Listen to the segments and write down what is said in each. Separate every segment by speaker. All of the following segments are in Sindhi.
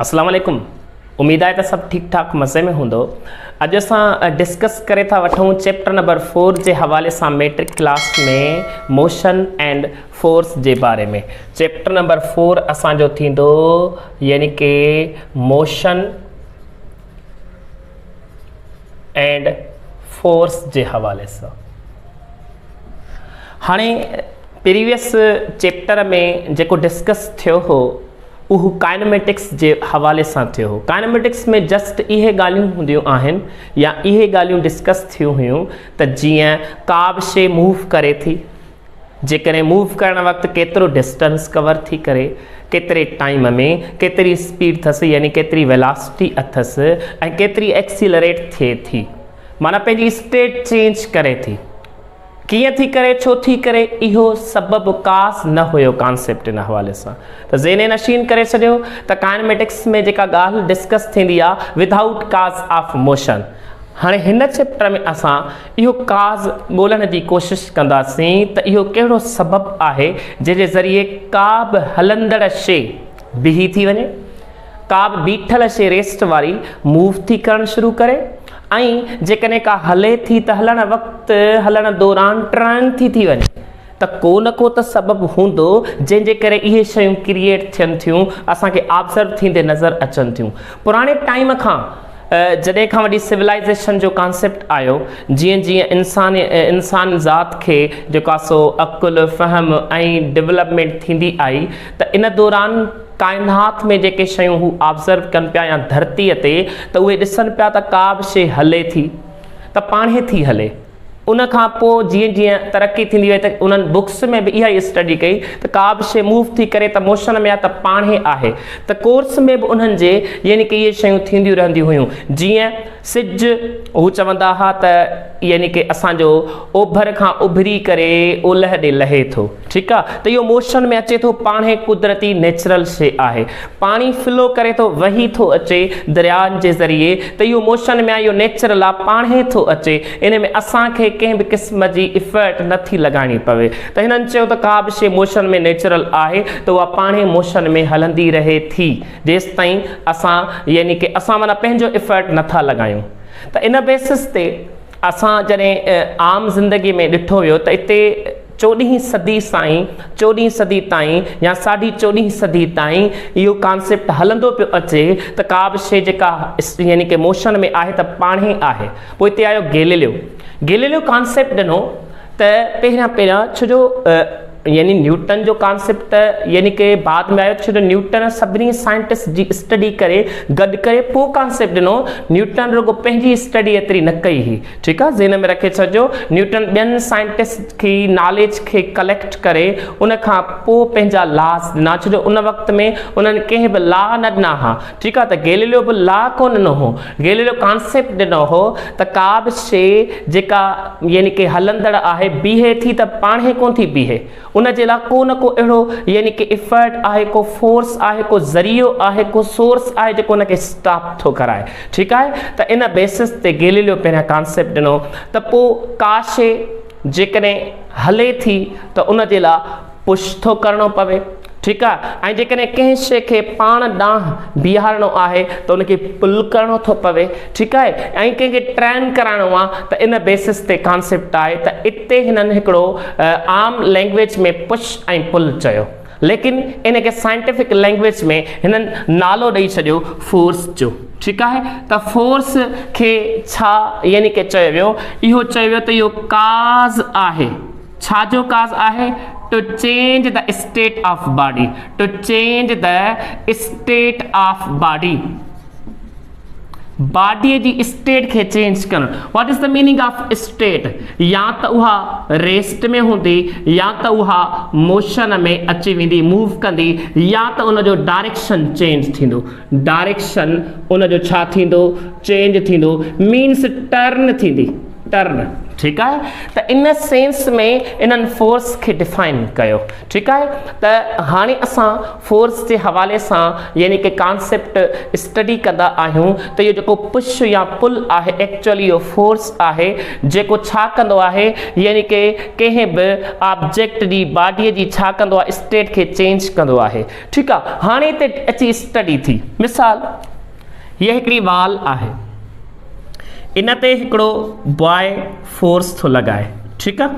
Speaker 1: اسلام عليڪم اميد آهي ته سڀ ٺيڪ ٺاڪ مزي ۾ هوندو اڄ اسان ڊسڪس ڪري ٿا وٺون چيپٽر نمبر فور جي حوالي سان matric class ۾ motion and force جي باري ۾ چيپٽر نمبر فور اسان جو ٿيندو يعني ڪي موشن اينڊ فورس جي حوالي سان هاڻي پريويس چيپٽر ۾ جيڪو ڊسڪس ٿيو هو اهو ڪائنميٽڪس جي حوالي سان ٿيو هو. ڪائنميٽڪس ۾ جسٽ اهي ڳالهيون هونديون آهن يا اهي ڳالهيون ڊسڪس ٿيون هيون ته جيئن ڪا به شيء موو ڪري ٿي، جيڪڏهن موو ڪرڻ وقت ڪيترو ڊسٽنس ڪور ٿي ڪري، ڪيتري ٽائيم ۾، ڪيتري اسپيڊ ٿس يعني ڪيتري ويلاسٽي اٿس ۽ ڪيتري ايڪسيلريٽ ٿئي ٿي معنيٰ پنهنجي اسٽيٽ چينج ڪري ٿي. ڪيئن ٿي ڪري، ڇو ٿي ڪري، اهو سبب ڪاس نه هيو ڪانسيپٽ ان حوالي سان ته ذهن نشين ڪري ڇڏيو ته ڪائنميٽڪس ۾ جيڪا ڳالهه ڊسڪس ٿيندي آ Without Cause of Motion هاڻي هن چيپٽر ۾ اسان اهو ڪاز ڳولڻ جي ڪوشش ڪنداسين ته اهو ڪهڙو سبب آهي جنهن جي ذريعي ڪا به هلندڙ شي بيهي ٿي وڃي ڪا به بيٺل شيء ريسٽ واري موو ٿي ڪرڻ شروع ڪري ۽ جيڪڏهن ڪا هلي ٿي ته هلڻ وقت هلڻ دوران ٽرن ٿي ٿي وڃي ته ڪو نه ڪو ته سبب هوندو جنهن جي ڪري اهي شيون ڪريئيٽ ٿين ٿيون اسان کي آبزرو ٿيندي نظر اچن ٿيون پراڻي ٽائيم کان جڏهن کان وٺي سولائيزيشن جو ڪانسيپٽ آيو جيئن جيئن انسان انسان ذات کي جيڪو آهي سو عقل فهم ۽ ڊولپمينٽ ٿيندي آئي ته ان دوران ڪائنات ۾ جيڪي شيون هو آبزرو ڪن پيا يا ڌرتيء تي ته اهي ڏسن پيا ته ڪا به شيء هلي ٿي ته پاڻهي ٿي هلي. ان کان پوء جيئن جيئن ترقي ٿيندي وئي ته انهن بڪس ۾ به اها ئي اسٽڊي ڪئي ته ڪا به شيء موو ٿي ڪري ته موشن ۾ آهي ته پاڻهي آهي ته ڪورس ۾ به انهن جي يعني ڪي اهي شيون ٿينديون رهنديون هيون جيئن سج، هو چوندا ها ته يعني ڪه اسان جو اوڀر کان اڀري ڪري اولهه ڏي لهي ٿو ٺيڪ آ ته اهو موشن ۾ اچي ٿو پاڻهي قدرتي نيچرل شي آهي پاڻي فلو ڪري ٿو وهي ٿو اچي دريائن جي ذريعي ته اهو موشن ۾ آ اهو نيچرل آ پاڻهي ٿو اچي ان ۾ اسان کي ڪنهن به قسم جي افيرٽ نٿي لڳائڻي پوي ته هنن چيو ته ڪا به شي موشن ۾ نيچرل آهي ته اها پاڻهي موشن ۾ هلندي رهي ٿي جيستائين اسان يعني ڪي اسان معنيٰ پنهنجو افرٽ نه ٿا لڳايون ته ان بيسس تي اسان جڏهن عام زندگي ۾ ڏٺو ويو ته اتي چوڏهين صدي سائين چوڏهين صدي تائين يا ساڍي چوڏهين صدي تائين اهو ڪانسيپٽ هلندو پيو اچي ته ڪا به شي جيڪا يعني ڪي موشن ۾ آهي ته پاڻهي آهي پوء اتي آيو گيليليو گيليليو ڪانسيپٽ ڏنو ته پهريان پهريان ڇو جو يعني نيوٽن جو ڪانسيپٽ ته يعني ڪي بعد ۾ آيو ڇو جو نيوٽن سڀني سائنٽسٽ جي اسٽڊي ڪري گڏ ڪري پوء ڪانسيپٽ ڏنو نيوٽن رڳو پنهنجي اسٽڊي ايتري نه ڪئي هئي ٺيڪ آهي ذهن ۾ رکي ڇڏجو نيوٽن ٻين سائنٽسٽ کي ناليج کي ڪليڪٽ ڪري ان کان پوء پنهنجا لاز ڏنا ڇو جو ان وقت ۾ انهن ڪنهن به لا نه ڏنا ها ٺيڪ آهي ته گيليليو به لا ڪونه ڏنو هو، گيليليو ڪانسيپٽ ڏنو هو ته ڪا به شيء جيڪا يعني ڪي هلندڙ آهي بيهي ٿي ته پاڻهي ڪونه ٿي بيهي، ان جي لا ڪو نه ڪو اهڙو يعني ڪي افرٽ آهي، ڪو فورس آهي، ڪو ذريعو آهي، ڪو سورس آهي جيڪو ان کي اسٽاپ ٿو ڪرائي، ٺيڪ آهي ته ان بيسس تي گيليليو پهريان ڪانسيپٽ ڏنو ته پوء ڪا شيء جيڪڏهن هلي ٿي ته ان جي لا پش ٿو ڪرڻو پوي ٺيڪ آ ۽ جيڪڏهن ڪنهن شي کي پاڻ ڏانهن بيهارڻو آهي ته ان کي پل ڪرڻو ٿو پوي ٺيڪ آهي ۽ ڪنهن کي ٽرين ڪرائڻو آ ته ان بيسس تي ڪانسيپٽ آهي ته اتي هنن هڪڙو عام لينگويج ۾ پش ۽ پل چيو ليڪن ان کي سائنٽيفڪ لينگويج ۾ هنن نالو ڏئي ڇڏيو فورس جو ٺيڪ آهي ته فورس کي ڇا يعني ڪي چيو ويو اهو چيو ويو ته اهو ڪاز آهي ڇا جو ڪاز آهي to change the state of body to change the state of body body جي اسٽيٽ کي چينج ڪرڻ what is the meaning of state يا ته اها ريسٽ ۾ هوندي يا ته اها موشن ۾ اچي ويندي موو ڪندي يا ته ان جو ڊائريڪشن چينج ٿيندو ڊائريڪشن ان جو ڇا ٿيندو چينج ٿيندو مينس ٽرن ٿيندي ٽرن ٺيڪ آهي ته ان سينس ۾ انهن فورس کي ڊفائن ڪيو ٺيڪ آهي ته هاڻي اسان فورس جي حوالي سان يعني ڪي ڪانسيپٽ اسٽڊي ڪندا آهيون ته اهو جيڪو پش يا پل آهي ايڪچولي اهو فورس آهي جيڪو ڇا ڪندو آهي يعني ڪي ڪنهن به آبجيڪٽ جي باڊي جي ڇا ڪندو آهي اسٽيٽ کي چينج ڪندو آهي ٺيڪ آهي هاڻي هتي اچي اسٽڊي ٿي مثال هي هڪڙي وال آهي ان تي هڪڙو باء فورس ٿو لڳائي ٺيڪ آ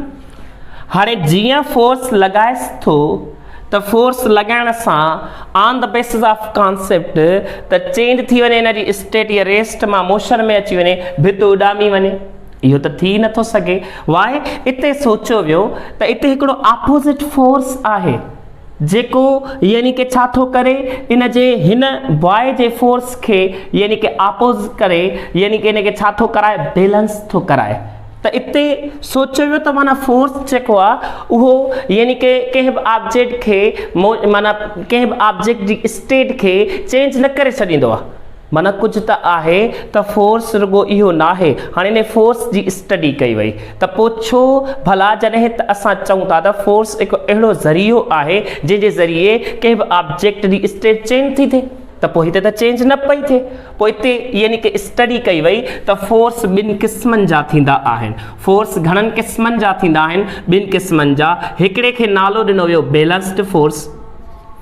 Speaker 1: هاڻي جيئن فورس لڳائيس ٿو ته فورس لڳائڻ سان on the basis of concept ته چينج ٿي وڃي ان جي اسٽيٽ يا ريسٽ مان موشن ۾ اچي وڃي ڀت اڏامي وڃي اهو ته ٿي نٿو سگهي واء اتي سوچيو ويو ته اتي هڪڙو اپوزٽ فورس آهي جيڪو يعني ڪي ڇا ٿو ڪري ان جي هن باء جي فورس کي يعني ڪي آپوز ڪري يعني ڪي ان کي ڇا ٿو ڪرائي بيلنس ٿو ڪرائي ته اتي سوچيو ويو ته معنيٰ فورس جيڪو آ اهو يعني ڪي ڪنهن به آبجيڪٽ کي معنيٰ ڪنهن به آبجيڪٽ جي اسٽيٽ کي چينج نه ڪري ڇڏيندو آ معنيٰ ڪجهه ته آهي ته فورس رڳو اهو ناهي، هاڻي انهي فورس جي اسٽڊي ڪئي وئي ته پوء ڇو ڀلا جڏهن ته اسان چئون ٿا ته فورس هڪ اهڙو ذريعو آهي جنهن جي ذريعي ڪنهن به آبجيڪٽ جي اسٽيٽ چينج ٿي ٿئي ته پوء هتي ته چينج نه پئي ٿئي پوء هتي يعني ڪي اسٽڊي ڪئي وئي ته فورس ٻن قسمن جا ٿيندا آهن فورس گهڻن قسمن جا ٿيندا آهن ٻن قسمن جا هڪڙي کي نالو ڏنو ويو بيلنسڊ فورس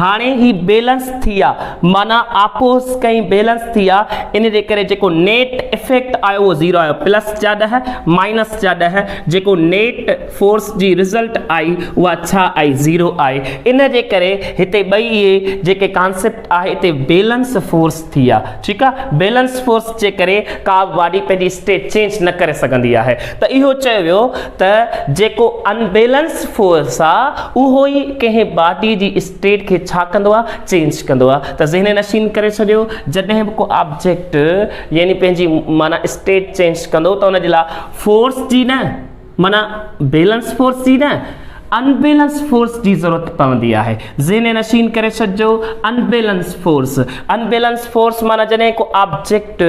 Speaker 1: هاڻي هي بيلنس ٿي آ معنيٰ آپوس ڪئين بيلنس ٿي آ ان جي ڪري جيڪو نيٽ افيڪٽ آيو اهو زيرو آيو پلس جا ڏهه مائنس جا ڏهه جيڪو نيٽ فورس جي رزلٽ آئي اها ڇا آئي زيرو آئي ان جي ڪري هتي ٻئي اهي جيڪي ڪانسيپٽ آهي هتي بيلنس فورس ٿي آ ٺيڪ آ بيلنس فورس جي ڪري ڪا به باڊي پنهنجي اسٽيٽ چينج نه ڪري سگهندي آهي ته اهو چيو ويو ته جيڪو ان بيلنس فورس آ اهو ئي ڪنهن باڊي جي اسٽيٽ کي ڇا ڪندو آ چينج ڪندو آ ته ذهن نشين ڪري ڇڏيو جڏهن به ڪو آبجيڪٽ يعني پنهنجي معنيٰ اسٽيٽ چينج ڪندو ته ان جي لاء فورس جي نه معنيٰ بيلنس فورس جي نه انبيلنس فورس جي ضرورت پوندي آهي ذهن نشين ڪري ڇڏجو انبيلنس فورس انبيلنس فورس معنيٰ جڏهن ڪو آبجيڪٽ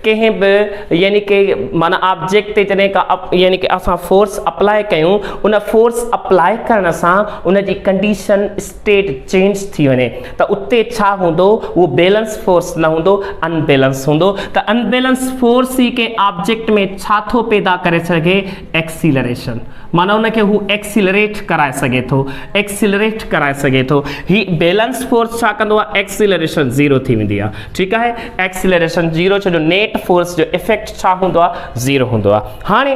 Speaker 1: ڪنهن به يعني ڪي معنيٰ آبجيڪٽ تي جڏهن ڪا يعني ڪي اسان فورس اپلاء ڪيون ان فورس اپلاء ڪرڻ سان ان جي ڪنڊيشن اسٽيٽ چينج ٿي وڃي ته اتي ڇا هوندو اهو بيلنس فورس نه هوندو ان بيلنس هوندو ته ان بيلنس فورس ئي ڪنهن آبجيڪٽ ۾ ڇا ٿو پيدا ڪري سگهي ايڪسيلريشن معنيٰ ان کي هو ايڪسيلريٽ ڪرائي سگهي ٿو ايڪسيلريٽ ڪرائي سگهي ٿو هي بيلنس فورس ڇا ڪندو آهي ايڪسيلريشن زيرو ٿي ويندي آهي ٺيڪ آهي ايڪسيلريشن زيرو ڇو جو نيٽ فورس جو افيڪٽ ڇا هوندو آهي زيرو هوندو آهي هاڻي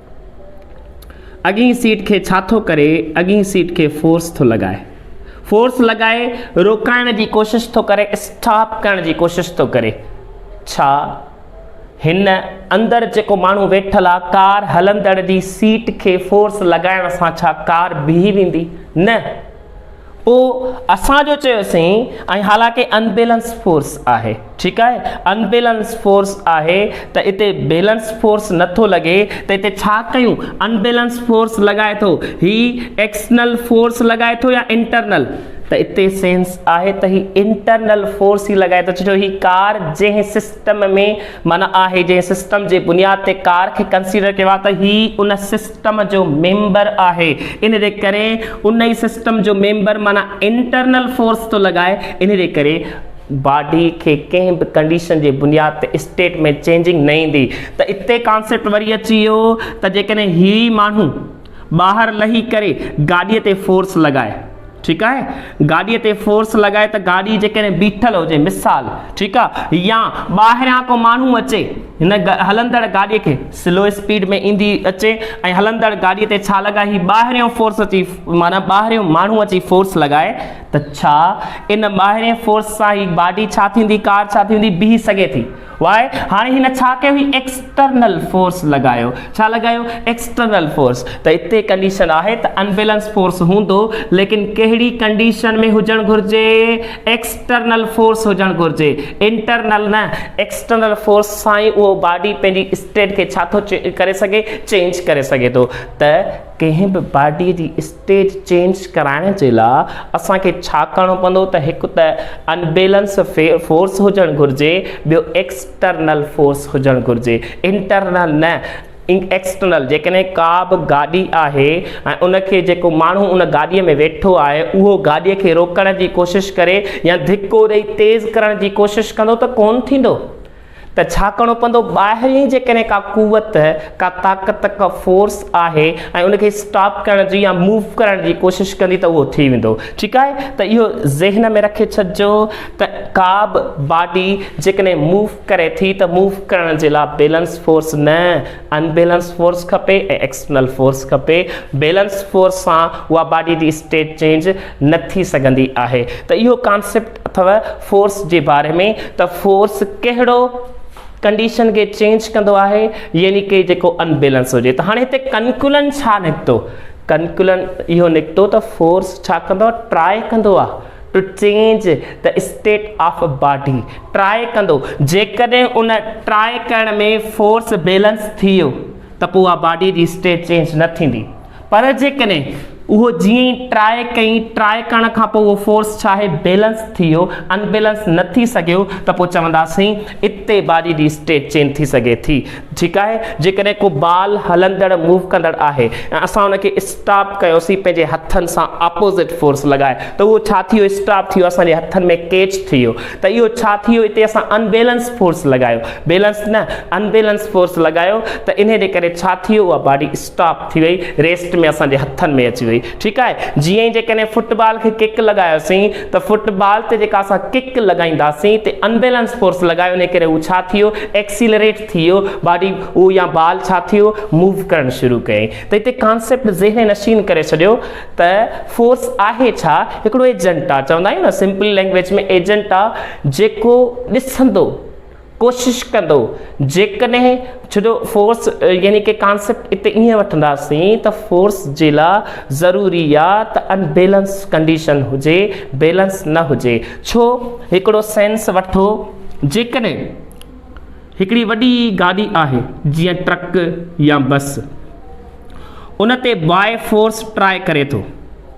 Speaker 1: اڳين سيٽ کي ڇا ٿو ڪري اڳين سيٽ کي فورس ٿو لڳائي فورس لڳائي روڪائڻ جي ڪوشش ٿو ڪري اسٽاپ ڪرڻ جي ڪوشش ٿو ڪري ڇا هن اندر جيڪو ماڻهو ويٺل آ ڪار هلندڙ جي سيٽ کي فورس لڳائڻ سان ڇا ڪار بيهي ويندي نه پوء اسان جو چيو سين ۽ حالانڪه ان بيلنس فورس آهي ٺيڪ آهي ان بيلنس فورس آهي ته اتي بيلنس فورس نٿو لڳي ته اتي ڇا ڪيون ان بيلنس فورس لڳائي ٿو هي ايڪسنل فورس لڳائي ٿو يا انٽرنل ته اتي سينس آهي ته هي انٽرنل فورس ئي لڳائي ٿو ڇو جو هي ڪار جنهن سسٽم ۾ معنيٰ آهي جنهن سسٽم جي بنياد تي ڪار کي ڪنسيڊر ڪيو آهي ته هي ان سسٽم سسٽم جو ميمبر آهي ان جي ڪري ان ئي سسٽم جو ميمبر معنيٰ انٽرنل فورس ٿو لڳائي ان جي ڪري باڊي کي ڪنهن به ڪنڊيشن جي بنياد تي اسٽيٽ ۾ چينجنگ نه ايندي ته اتي ڪانسيپٽ وري اچي ويو ته جيڪڏهن هي ماڻهو ٻاهر لهي ڪري گاڏي تي فورس لڳائي ٺيڪ آهي گاڏي تي فورس لڳائي ته گاڏي جيڪڏهن بيٺل هجي مثال ٺيڪ آهي يا ٻاهريان ڪو ماڻهو اچي هن هلندڙ گاڏي کي سلو اسپيڊ ۾ ايندي اچي ۽ هلندڙ گاڏي تي ڇا لڳائي هي ٻاهريان فورس اچي معنيٰ ٻاهريان ماڻهو اچي فورس لڳائي ته ڇا ان ٻاهرين فورس سان هي گاڏي ڇا ٿيندي ڪار ڇا ٿيندي بيهي سگهي ٿي واء هاڻي هن ڇا ڪيو هي ايڪسٽرنل فورس لڳايو ڇا لڳايو ايڪسٽرنل فورس ته اتي ڪنڊيشن آهي ته انبيلنس فورس هوندو ليڪن ڪهڙي ڪنڊيشن ۾ هجڻ گهرجي ايڪسٽرنل فورس هجڻ گهرجي انٽرنل نه ايڪسٽرنل فورس سان ئي اهو باڊي پنهنجي اسٽيٽ کي ڇا ٿو ڪري سگهي چينج ڪري سگهي ٿو ته ڪنهن به باڊي جي اسٽيٽ چينج ڪرائڻ جي لا اسان کي ڇا ڪرڻو پوندو ته هڪ ته ان بيلنس فورس هجڻ گهرجي ٻيو ايڪسٽرنل فورس هجڻ گهرجي انٽرنل نه ايڪسٽرنل جيڪڏهن ڪا به گاڏي آهي ۽ ان کي جيڪو ماڻهو ان گاڏي ۾ ويٺو آهي اهو گاڏي کي روڪڻ جي ڪوشش ڪري يا ڌڪو ڏئي تيز ڪرڻ جي ڪوشش ڪندو ته ڪون ٿيندو ته ڇا ڪرڻو پوندو؟ ٻاهرين جيڪڏهن ڪا قوت، ڪا طاقت، ڪا فورس آهي ۽ ان کي اسٽاپ ڪرڻ جي يا موو ڪرڻ جي ڪوشش ڪندي ته اهو ٿي ويندو. ٺيڪ آهي ته اهو ذهن ۾ رکي ڇڏجو ته ڪابه باڊي جيڪڏهن موو ڪري ٿي ته موو ڪرڻ جي لاء بيلنس فورس نه ان بيلنس فورس کپي ۽ ايڪسٽرنل فورس کپي. بيلنس فورس سان اها باڊي جي اسٽيٽ چينج نه ٿي سگهندي آهي ته اهو ڪانسيپٽ اٿو فورس جي باري ۾ ته فورس ڪهڙو ڪنڊيشن کي چينج ڪندو آهي يعني ڪي جيڪو انبيلنس هجي ته هاڻي هتي ڪنڪولن ڇا نڪتو ڪنڪولن اهو نڪتو ته فورس ڇا ڪندو آهي ٽرائي ڪندو آهي ٽو چينج ته اسٽيٽ آف باڊي ٽرائي ڪندو جيڪڏهن ان ٽرائي ڪرڻ ۾ فورس بيلنس ٿي ويو ته پوء اها باڊي جي اسٽيٽ چينج نه ٿيندي پر جيڪڏهن اهو جيئن ئي ٽرائي ڪيئي ٽرائي ڪرڻ کان پوء اهو فورس ڇا آهي بيلنس ٿي ويو ان بيلنس نه ٿي سگهيو ته پوء چونداسين اتي باڊي جي اسٽيٽ چينج ٿي سگهي ٿي ٺيڪ آهي جيڪڏهن ڪو بال هلندڙ موو ڪندڙ آهي ۽ اسان ان کي اسٽاپ ڪيوسين پنهنجي هٿن سان اپوزٽ فورس لڳائي ته اهو ڇا ٿي ويو اسٽاپ ٿي ويو اسان جي هٿن ۾ ڪيچ ٿي ويو ته اهو ڇا ٿي ويو اتي اسان ان بيلنس فورس لڳايو بيلنس نه ان بيلنس فورس لڳايو ته انهي جي ڪري ڇا ٿي ويو اها باڊي اسٽاپ ٿي وئي ريسٽ ۾ اسان جي هٿن ۾ اچي وئي ٺيڪ آهي جيئن ئي جيڪڏهن فٽ بال کي ڪڪ لڳايوسين ته فٽ بال تي جيڪا اسان ڪڪ لڳائينداسين تي انبيلنس فورس لڳايو انهي ڪري هو ڇا ٿيو ايڪسيلريٽ ٿيو باڊي هو يا بال ڇا ٿيو موو ڪرڻ شروع ڪيائين ته هتي ڪانسيپٽ ذهن نشين ڪري ڇڏيو ته فورس آهي ڇا هڪڙو ايجنٽ آهي چوندا آهيون نه سمپل لينگويج ۾ ايجنٽ آهي جيڪو ڏسندو ڪوشش ڪندو جيڪڏهن ڇو جو فورس يعني ڪي ڪانسيپٽ اتي ائين وٺنداسين ته فورس جي لا ضروري آ ته ان بيلنس ڪنڊيشن هجي بيلنس نه هجي ڇو هڪڙو سينس وٺو جيڪڏهن هڪڙي وڏي گاڏي آهي جيئن ٽرڪ يا بس ان تي باء فورس ٽرائي ڪري ٿو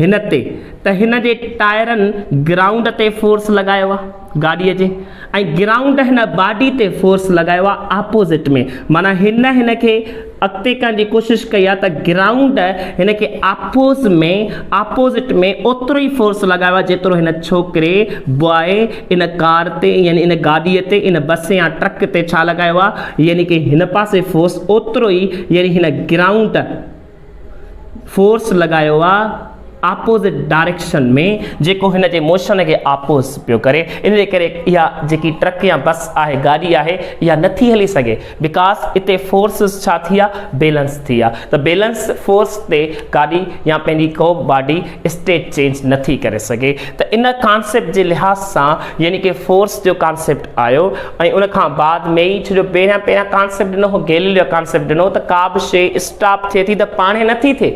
Speaker 1: هن تي ته هن جي ٽائرن گرائونڊ تي فورس لڳايو آ گاڏي جي ۽ گرائونڊ هن باڊي تي فورس لڳايو آ آپوزٽ ۾ معنيٰ هن هن کي اڳتي ڪرڻ جي ڪوشش ڪئي آ ته گرائونڊ هن کي آپوز ۾ آپوزٽ ۾ اوترو ئي فورس لڳايو آ جيترو هن ڇوڪري بواء ان ڪار تي يعني ان گاڏي تي ان بس يا ٽرڪ تي ڇا لڳايو آ يعني ڪي هن پاسي فورس اوترو ئي يعني هن گرائونڊ فورس لڳايو آ آپوزٽ ڊائريڪشن ۾ جيڪو هن جي موشن کي آپوز پيو ڪري ان جي ڪري اها جيڪي ٽرڪ يا بس آهي گاڏي آهي اها نٿي هلي سگهي بڪاز اتي فورسز ڇا ٿي آ بيلنس ٿي آ ته بيلنس فورس تي گاڏي يا پنهنجي ڪو باڊي اسٽيٽ چينج نٿي ڪري سگهي ته ان ڪانسيپٽ جي لحاظ سان يعني ڪي فورس جو ڪانسيپٽ آيو ۽ ان کان بعد ۾ ئي ڇو جو پهريان پهريان ڪانسيپٽ ڏنو هو گيليليو جا ڪانسيپٽ ڏنو ته ڪا به شيء اسٽاپ ٿئي ٿي ته پاڻهي نه ٿي ٿئي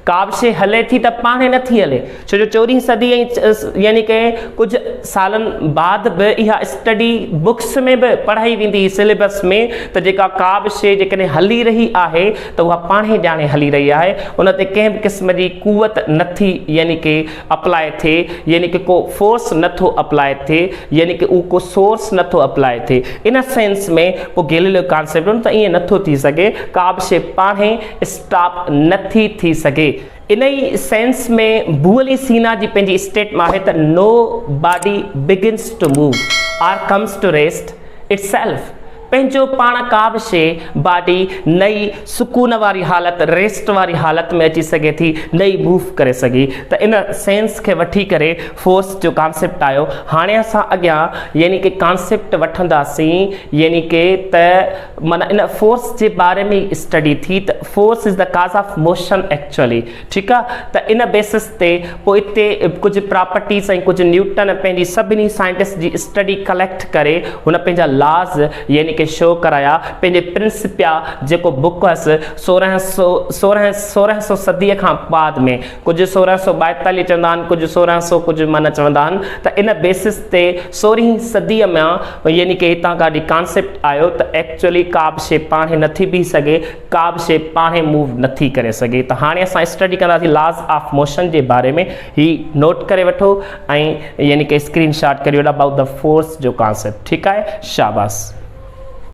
Speaker 1: ڪا به شيء هلي ٿي ته پاڻهي نه ٿي هلي ڇو جو چوڏهين صدي ۽ يعني ڪي ڪجهه سالن بعد به اها اسٽڊي بڪس ۾ به پڙهائي ويندي هئي سليبس ۾ ته جيڪا ڪا به شيء جيڪڏهن هلي رهي آهي ته اها پاڻهي ڄاڻي هلي رهي آهي ان تي ڪنهن به قسم جي قوت نه ٿي يعني ڪي اپلاء ٿئي يعني ڪو فورس نه ٿو اپلاء ٿئي يعني ڪو اهو ڪو سورس نه ٿو اپلاء ٿئي ان سينس ۾ پوء گيليليو ڪانسيپٽ ته ائين نه ٿو ٿي سگهي ڪا به شيء پاڻ ئي اسٽاپ نه ٿي ٿي سگهي انهي سينس ۾ بوئلي سينا جي پنهنجي اسٽيٽم آهي ته no body begins to move or comes to rest itself پنهنجو پاڻ ڪا به شيء، باڊي، نه ئي سڪون واري حالت، ريسٽ واري حالت، ۾ اچي سگهي ٿي نه ئي موو ڪري سگهي ته ان سينس کي وٺي ڪري فورس جو ڪانسيپٽ آيو هاڻي اسان اڳيان يعني ڪه ڪانسيپٽ وٺنداسين يعني ڪه ته معنيٰ ان فورس جي باري ۾ ئي اسٽڊي ٿي ته force is the cause of motion actually ٺيڪ آ ته ان بيسس تي پوء اتي ڪجهه پراپرٽيز ۽ ڪجهه نيوٽن پنهنجي سڀني سائنٽسٽ جي اسٽڊي ڪليڪٽ ڪري هن پنهنجا لاز يعني ڪي شو ڪرايا پنهنجي پرنسپيا جيڪو بوڪ هئس سورهن سو سورهن سورهن سو صدي کان بعد ۾ ڪجهه سورهن سو ٻائيتاليهه چوندا آهن ڪجهه سورهن سو ڪجهه معنيٰ چوندا آهن ته ان بيسس تي سورهين صدي مان يعني ڪي هتان ڪا ڊي ڪانسيپٽ آيو ته ايڪچولي ڪا به شي پاڻهي نٿي بيهي سگهي ڪابه شيء پاڻهي موو نه ٿي ڪري سگهي ته هاڻي اسان اسٽڊي ڪنداسين لاز آف موشن جي باري ۾ هي نوٽ ڪري وٺو ۽ يعني ڪي اسڪرين شاٽ ڪري وٺو ابائوٽ ته فورس جو ڪانسيپٽ ٺيڪ آهي شاباس.